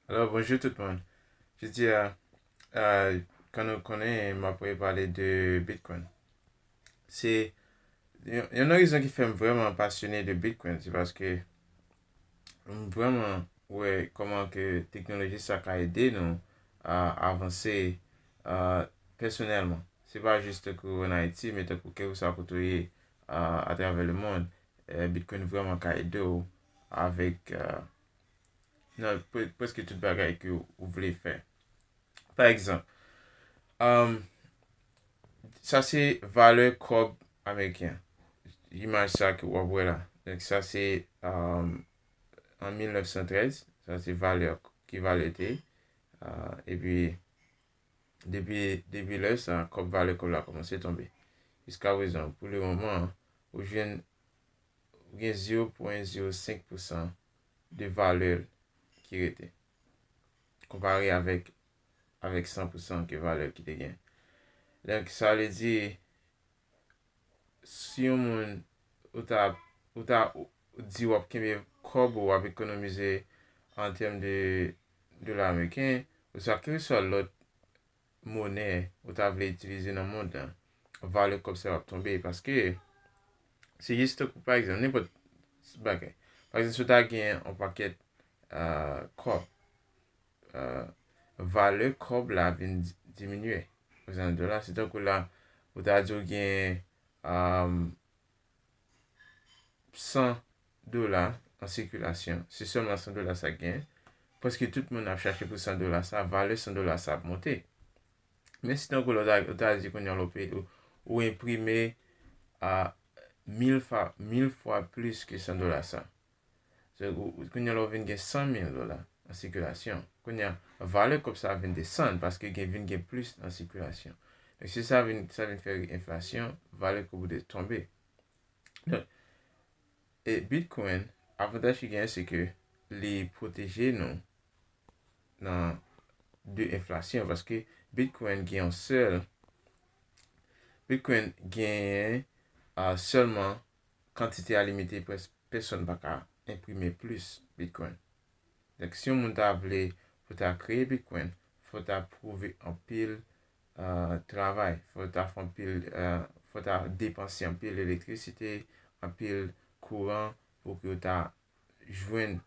Alò bonjou tout moun. Jodi a, kòm nou konnen m ap pale de Bitcoin. Se yon nan rezon ki fè m vrèman pasyone de Bitcoin se paske m vrèman wè kòman ke teknoloji sa ka ede nou avanse pèsonèlman. Se pa jis tankou an Ayiti men tankou kèlkeswa kote ou ye atravè lemonn, Bitcoin vrèman ka ede w avèk nan preske tout bagay ke ou vle fè. Pa egzanp, um, sa se valè kòb ameriken. Imaj sa ke wap wè la. Donk sa se um, an 1913, sa se valè ki valè te. Uh, epi depi depi lè sa kòb valè kòb la komanse tonbe. Jiska prezan pou le moman ou jwenn gen 0.05% de valè l ki rete, konpare avèk avèk 100 pou 100 ke valè l ki te gen. Donk, sa vle di, si yon moun, ou ta, ou ta di w ap kenbe kòb ou, w ap ekonomize an tèm de dola ameriken, oswa kelkeswa lòt monè ou ta vle itilize nan mond lan, valè kòb sa yo ap tonbe. Paske, se jis tankou pa egzanp, nenpòt bagay. Pa egzanp, si w ta gen yon pakèt kòb, valè kòb la ap vin diminye. Pa egzanp, nan dola, se tankou la ou ta di ou gen 100 dola an sikilasyon, se sèlman 100 dola sa gen, prèske tout moun ap chache pou 100 dola sa, valè 100 dola sa ap monte. Men si tankou lò ou ta di kounye an lò peyi ou, ou enprime a 1000 fa, 1000 fwa plis ke 100 dola sa. Se kounye an lò vin gen 100 mil dola an sikilasyon. Kounye an, valè kòb sa vin desann paske gen vin gen plis an sikilasyon. Donk se sa vin, sa vin fè enflasyon, valè kòb ou de tonbe. E Bitcoin, avantaj ki genyen se ke li pwoteje nou nan de enflasyon. Paske Bitcoin gen yon sèl, Bitcoin genyen sèlman kantite a limite pwès pèsòn pa ka enprime plis Bitcoin. Donk si yon moun ta vle pou ta kreye Bitcoin, fò ta pwouve anpil travay, fò yo ta fè anpil, fò yo ta depanse anpil elektrisite, anpil kouran pou yo ta jwenn,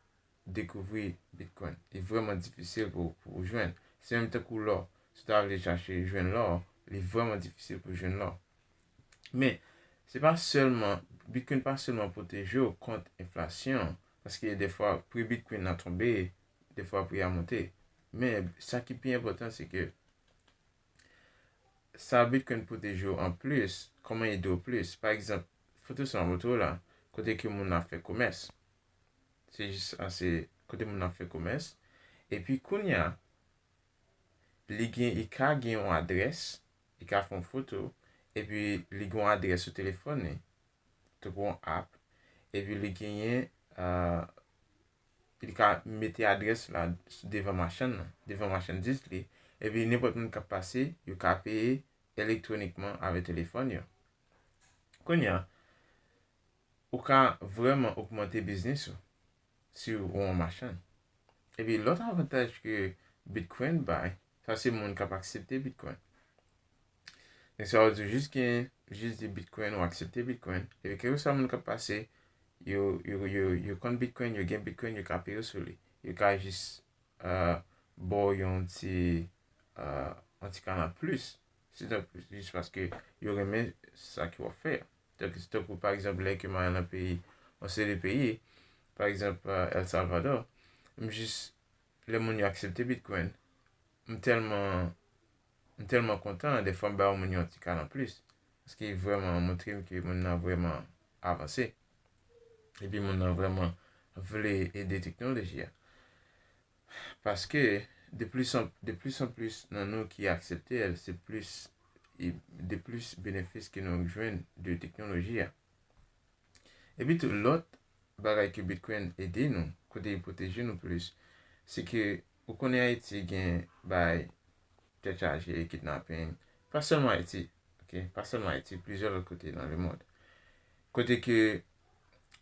dekouvri bitcoin. Li vrèman difisil pou ou jwenn. Se menm tankou lò. Si ou ta vle chache jwenn lò, li vrèman difisil pou jwenn lò. Men, se pa sèlman, bitcoin pa sèlman pwoteje ou kont enflasyon, paske defwa pri bitcoin nan tonbe, defwa pri a monte. Men, sa ki pi enpòtan se ke, Sa bit coin pwoteje w an plis, kòman ede w plis. Pa egzanp, foto sa montre w la, kote ke moun ap fè komès. Se jis sa, se kote moun ap fè komès. E pi kounya, li gen, i ka gen yon adrès, i ka fè yon foto, e pi li gen yon adrès sou telefòn li, tankou yon app, e pi li genyen, li ka mete adrès la devan machann nan, devan machandiz li, epi nenpòt moun k ap pase, yo ka peye elektwonikman avè telefòn yo. Kounye a, ou ka vrèman ogmante biznis ou si ou an machann. Epi lòt avantaj ke Bitcoin bay, Sa se moun kap aksepte bitcoin. Nèg sa yo di jis gen jis di bitcoin ou aksepte bitcoin. Epi kèlke sa moun kap pase yo yo yo yo konn bitcoin, yo gen bitcoin, yo ka peye sou li. Yo ka jis uh, bo yon ti uh, yon ti kanal plis. Si donk jis paske yo renmen sa ke wap fè a. Donk si tankou pa egzanp lè ke mwen al nan peyi, yon seri de peyi, pa egzanp uh, El Salvador, m jis lè moun yo aksepte bitcoin m tèlman m tèlman kontan dèfwa m ba yon moun yon ti kal anplis paske vrèman montre m ke moun nan vrèman avanse epi moun nan vrèman vle ede teknoloji a paske de plis an de plis an plis nan nou ki aksepte l se plis e de plis benefis ke nou jwenn de teknoloji a. Epi tou lòt bagay ke Bitcoin ede nou, kote li pwoteje nou plis, se ke ou konnen Ayiti gen bay tèt chaje, kidnapping, pa sèlman Ayiti, ok, pa sèlman Ayiti, plizyè lòt kote nan lemond. Kote ke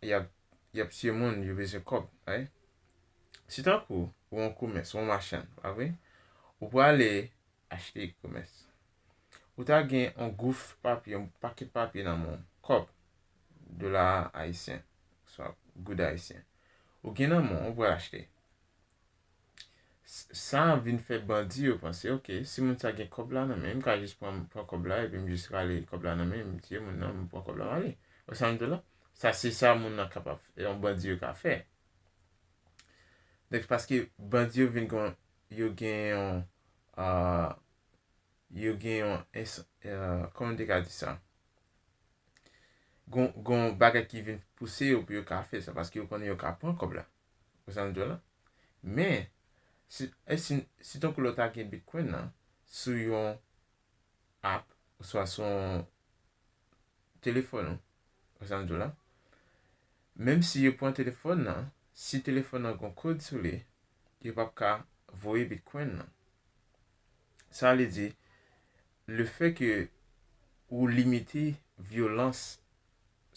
y ap y ap tiye moun, yo bezwen kòb, right? Si tankou ou an komès, ou an machann, pa vre? Ou prale achte komès, Ou ta gen yon gouf papye, yon pakèt papye nan men w, kòb, dola ayisyen, oswa goud ayisyen. Ou gen nan men w, ou pral achte. Sa a vin fè bandi yo panse, ok, si moun sa gen kòb la nan men l, m ka jis pran kòb la epi m jis rale kòb la nan men l, m tiye moun nan, m pran kòb la, m ale. Ou wè sa m di w la? Sa se sa moun nan kapab, yon bandi yo ka fè. Donk, paske bandi yo vin gen, yo gen yon, yo gen yon, kòman m te ka di sa, gen yon bagay ki vin pouse yo pou yo ka fè sa, paske yo konnen yo ka pran kòb la. Ou konprann sa m di w la? Men, si tankou lè w ta gen Bitcoin nan sou yon app oswa sou yon telefòn ou, ou konprann sa m di w la, menm si yo pran telefòn nan, si telefòn nan gen yon kòd sou li, yo pap ka voye Bitcoin nan. Sa vle di, le fè ke ou limite vyolans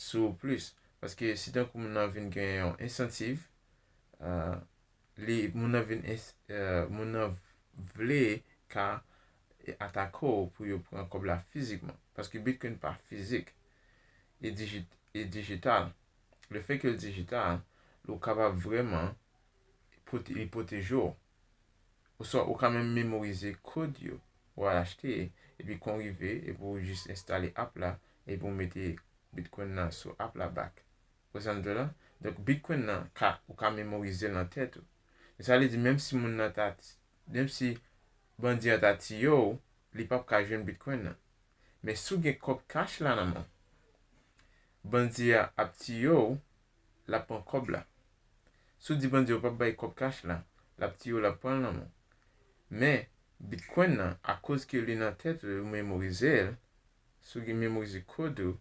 sou ou plis, paske si tankou moun nan vin gen yon ensantiv, moun nan vin, moun nan vle ka atake w pou yo pran kòb la fizikman, paske Bitcoin pa fizik, li dijital. Le fè ke l dijital, ou kapab vreman, li pwoteje w. Oswa ou ka menm memorize kod yo pou al achte epi kon rive epi ou jis enstale app la epi ou mete Bitcoin nan sou app la back. Ou sa m di w la? Donk Bitcoin nan ka ou ka memorize l nan tèt ou. Se sa vle di menm si moun nan ta menm si bandi an ta tiye w li pap ka jwenn Bitcoin nan. Men si w gen kòb cash la nan men w bandi a ap tiye w lap pran kòb la si w di bandi yo pap bay kòb kach la lap tiye w lap pran lanmou men bitcoin nan akoz ke li nan tèt ou e ou memorize l si w gen memorize kòd ou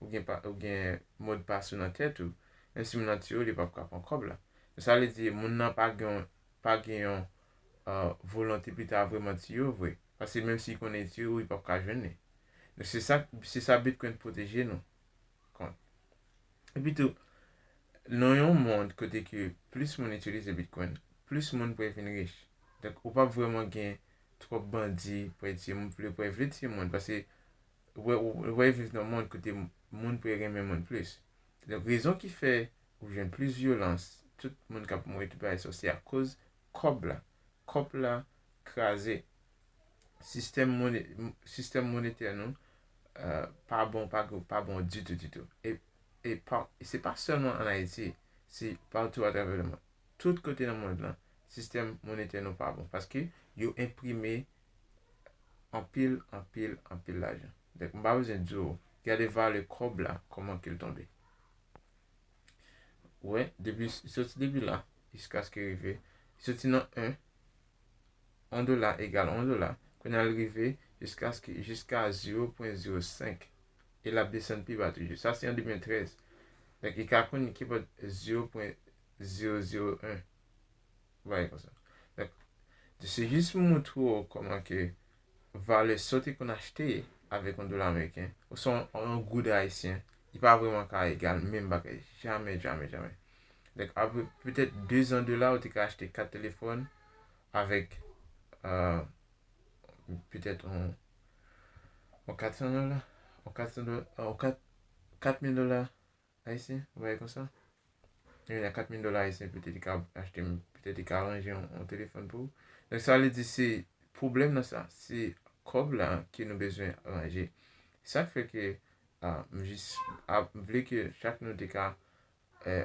ou gen pa ou gen modpas ou nan tèt ou menm si moun nan tiye w li pap ka pran kòb la men sa vle di moun nan pa gen pa gen yon volonte pou li ta vreman tiye w vre paske menm si li konnen li tiye w li pap ka jwenn li donk se sa se sa bitcoin pwoteje nou. kont. Epi tou, nan yon mond kote ke plis moun itilize Bitcoin, plis moun pre vin rich. Donk, ou pap vreman gen twòp bandi pre ti moun, vle pre vle ti moun. Pase, ou pre viv nan mond kote moun pre renmen moun plis. Donk, rezon ki fè ou jwenn plis vyolans, tout moun kap mouri tout bagay sa, se akoz kòb la. Kòp la kraze sistèm mone sistèm monetè nou pa bon pa gou pa bon ditou ditou e e pa e se pa sèlman an Ayiti se patou atravè le mond tout kote nan mond lan sistèm monetè nou pa bon paske yo enprime anpil anpil anpil lajan dèk m pa bezwen di w gade vale kòb la kòman ke l tonbe wè depi soti depi la jiskaske rive soti nan 1 1 dola egal 1 dola, kounye a l rive jiskaske jiska 0.05 e l ap desann pi ba toujou. Sa se an 2013. Donk i ka konn kipòt 0.001. Ou bay konsa. Donk, se jis pou montre w kòman ke valè sa w te konn achte avèk yon dola ameriken oswa yon goud ayisyen, li pa vrèman ka egal menm bagay. Jamè, jamè, jamè. Donk, apre petèt dezan de la, ou te ka achte kat telefòn avèk petèt yon katsan dola, yon katsan dola, yon kat, katmil dola. Ayisyen, yon bagay konsa. Yon gen 4 mil dola ayisyen petèt li ka achte, petèt li ka ranje yon telefòn pou ou. Donk sa vle di se pwoblèm nan sa, se kòb la ke nou bezwen ranje. Sa k fè ke m jis ap vle ke chak nou te ka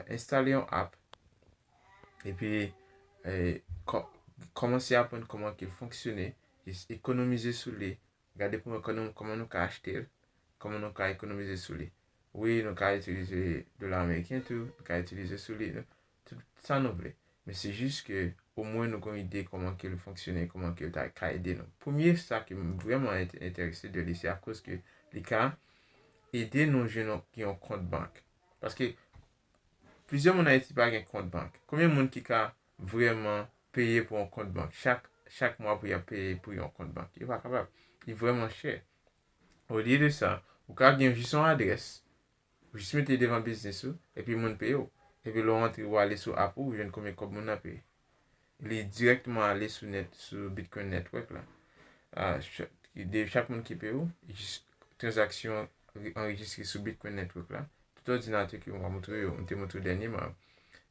enstale yon app epi kòmanse aprann kòman ke l fonksyone, jis ekonomize sou li Gade pou nou kòman nou ka achte l, kòman nou ka ekonomize sou li. Wi, nou ka itilize dola ameriken tou, nou ka itilize sou li, tout sa nou vle. Men se jis ke omwen nou gon ide kòman ke l fonksyone, kòman ke l ta ka ede nou. Premye sa ke m vrèman enterese de li se akoz ke li ka ede nou jwenn yon gen yon kont bank. Paske plizyè moun Ayiti pa gen kont bank. Konbyen moun ki ka vrèman peye pou yon kont bank chak chak mwa pou y ap peye pou yon kont bank. Yo pa kapab. Li vrèman chè. Olye de sa, ou ka gen jis yon adrès, ou jis mete li devan biznis ou, epi moun peye w. Epi lè w antre, ou ale sou app ou, ou jwenn konbyen kòb moun nan peye. Li dirèkteman ale sou net sou Bitcoin Network la. Chak moun ki peye w, jis tranzaksyon anrejistre sou Bitcoin Network la, tout òdinatè ke mwen moutre yo, mwen te moutre yo dènyèman an,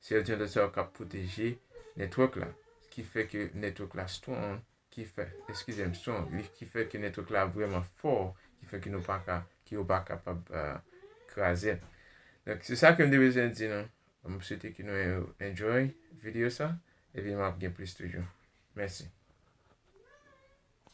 se òdinatè sa yo kap pwoteje network la, ki fè ke network la strong, ki fè, eskize m, strong, ki fè ke network la vreman fò, ki fè ke nou pa ka, ke yo pa kapab kraze l. Donk, se sa ke m te bezwen di nou. M swete ke nou enjoy video sa, epi map gen plis toujou. Mèsi.